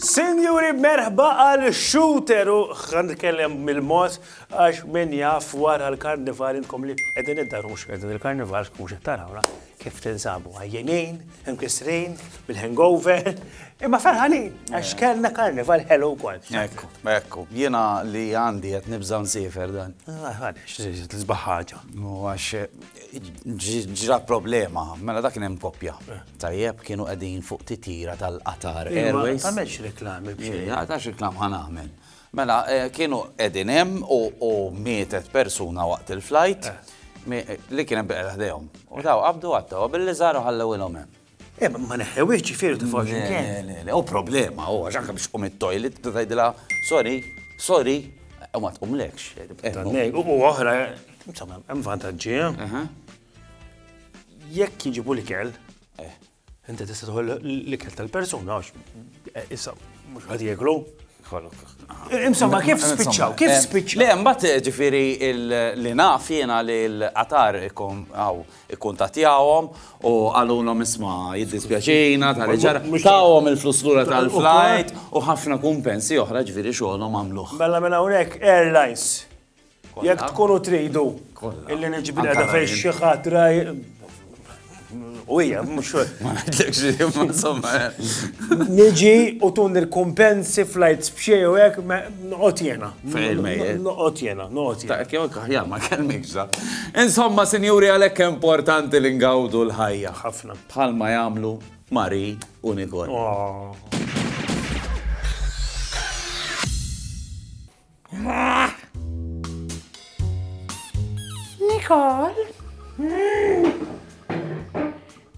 Sinjuri, merħba għal Shooter u ħan nitkellem mill-mod għax min jaf wara l-Karnival intkom li qegħdin id-dar mhux qegħdin il-Karnival mhux qed tarawna. Kif tinsabu? Għajjenin, imkissrin, bil-hangover, imma ferħanin, għax kellna karnival ħelu wkoll. Ekku, ekku, jiena li għandi qed nibża nsifer dan. Għadex, ah, tisbaħ ħaġa. Għax ġra problema, mela dak hemm koppja. Eh. Tajjeb kienu qegħdin fuq titira tal-Qatar Airways. Għamex reklami. Għax reklam ħan għamel. Mela, kienu qegħdin hemm u mietet persuna waqt il-flajt li kien hemm biqla ħdejhom. U daw qabdu għattewha billi żaru ħallewilhom hemm. Eh, ma neħħewhiex ġifieri tfal x'imkien. Le, le, le, hu problema hu għax anke biex tqum it-toilet tgħidilha sorry, sorry, u ma tqumlekx. U oħra, insomma, hemm vantaġġi. Jekk jiġibu l-ikel, Inti tista' tieħu l-ikel tal-persuna għax issa mhux ħadd jieklu. Insomma, kif spiċċaw? Kif eh, spiċċaw? Le, mbagħad eh, ġifieri li naf jiena li l-qatar ikkuntatjawhom u għalunhom isma' jiddispjaċina tal ġara tawhom il-flus lura tal-flight u ħafna kumpensi oħra ġifieri xogħolhom għamluh. Mela minn hawnhekk Airlines Jekk tkunu tridu illi niġbri għada fejn xi ħadd U hija mhux ma ngħidlekx li insomma. Eh. Niġi u tun il-kumpensi flights b'xej u hekk noqgħod jena. Noqgħod jena, noqgħod jena. Dak jew aħjar ma kellmikx Insomma, sinjuri għalhekk importanti li ngawdu l-ħajja. Ħafna. Bħalma jagħmlu Mari u Nikol. Oh. Nicole?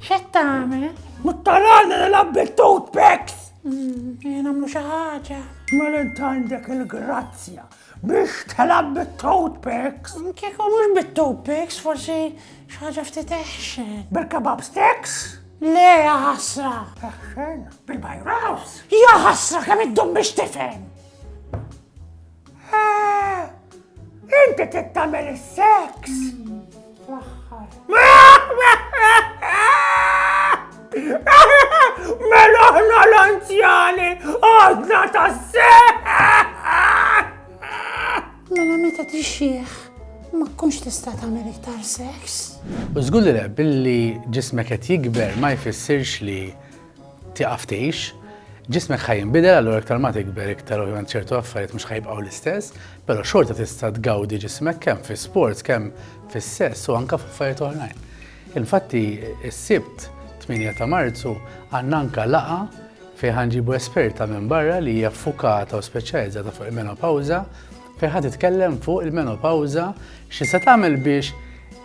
Xed tagħmel? Muttarana nilgħab bit-toothpicks! Hmm, jien għamlu xi ħaġa. Mela għandek il-grazzja biex telab bit-toothpicks. Kieku mhux bit-toothpicks, forsi xaġa ftit eħxen. Bil-kebab sticks? Le, ħasra. Eħxen, bil-bajraws. Ja ħasra, kemm id-dum biex tifhem. Inti tittamel is-seks. Mela ħna l-anzjani għadna ta' Mela meta tixxieħ, ma tkunx tista' tagħmel iktar seks. U żgur li le, billi ġismek qed jikber ma jfissirx li tieqaf tgħix, ġismek ħa jinbidel, allura iktar ma tikber iktar ovvjament ċertu affarijiet mhux ħajbqgħu l-istess, però xorta tista' tgawdi ġismek kemm fi sports, kemm fis-sess u anke f'affarijiet oħrajn. Infatti, is-sibt 8 ta' Marzu għandna anke laqa fejn ħanġibu esperta minn barra li hija ffukata u speċjalizzata fuq il-menopawża fejn ħad titkellem fuq il-menopawża xi se tagħmel biex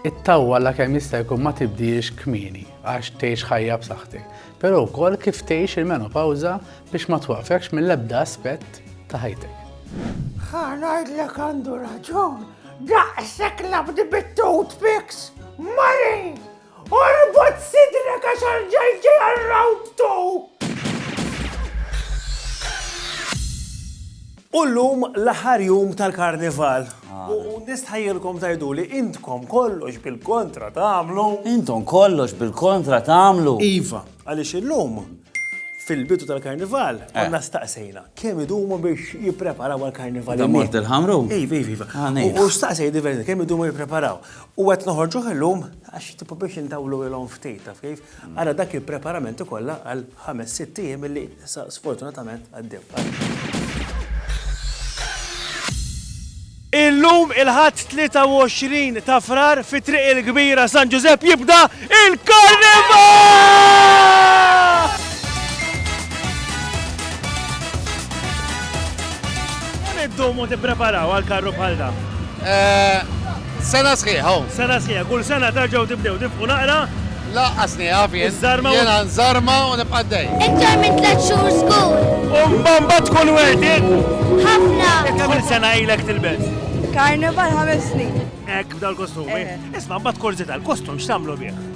it-tawwa la kemm jista' jkun ma tibdiex kmieni. għax tgħix ħajja b'saħħtek, però wkoll kif tgħix il-menopawża biex ma twaqfekx mill-ebda aspett ta' ħajtek. Ħa ngħidlek għandu raġun, daqshekk labdi bit-tut fix, Mari! Orbot sidrek għax għal-ġajġi għal-round two! U llum l-aħħar jum tal-Karnival. U nistħajjilkom tgħiduli intkom kollox bil-kontra tagħmlu. Intom kollox bil-kontra tagħmlu. Iva, għaliex illum fil-bidu tal-Karnival eh. konna staqsejna kemm idumu biex jippreparaw għal-Karnival. Da mort il-ħamru? Iva, iva, iva. Ah, u staqsej diversi kemm idumu jippreparaw. U għet noħorġu illum għax tipo biex intawlu il-om ftit, taf kif? Ara dak il-preparamenti kollha għal ħames sitt ijiem illi issa sfortunatament għaddew. Illum il-Ħadd 23 ta' Frar fi Triq il-Kbira San Ġużepp jibda il-Karnival! Kemm iddumu tippreparaw għal karru bħal dan? Sena sħiħa hu. Sena sħiħa. Kull sena terġgħu tibdew tifqu naqra. Lanqas nieqaf jien. Iż-żarma u. Jiena nżarma u nibqa' għaddej. Iktar minn tliet xhur żgur. U mbagħad tkun wegħdiet. Ħafna. Kemm-il sena ilek tilbes? Karnival ħames snin. Hekk b'dal-kostumi? Isma' mbagħad korżi tal-kostum x'tagħmlu bih?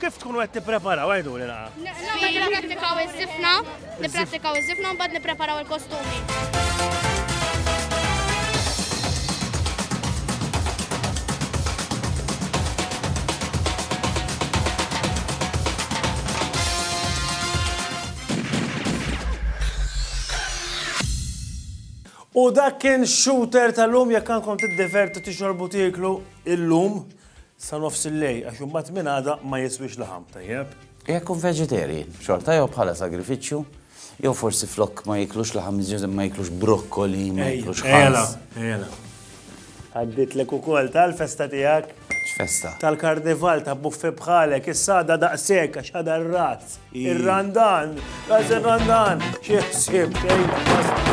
Kif tkunu qed tippreparaw għajduli naqa? Nipprattikaw iż-żifna, nipprattikaw iż-żifna u mbagħad nippreparaw il-kostumi. U dak kien shooter tal-lum jekk għandkom tiddivertu tixorbu tieklu il-lum. Sa nofs il-lejl għax imbagħad minn għada ma jiswiex laħam tajjeb. Jekk ikun vegetarian, xorta jew bħala sagrifiċċju, jew forsi flok ma jiklux laħam iżjed ma jiklux brokkoli, ma jiklux ħala. Għadditlek ukoll tal-festa tiegħek. X'festa? Tal-karnival ta' buffi bħalek, issa għadha daqshekk għax għadha r-rat. Ir-randan, għaż ir-randan, xi ħsieb xejn.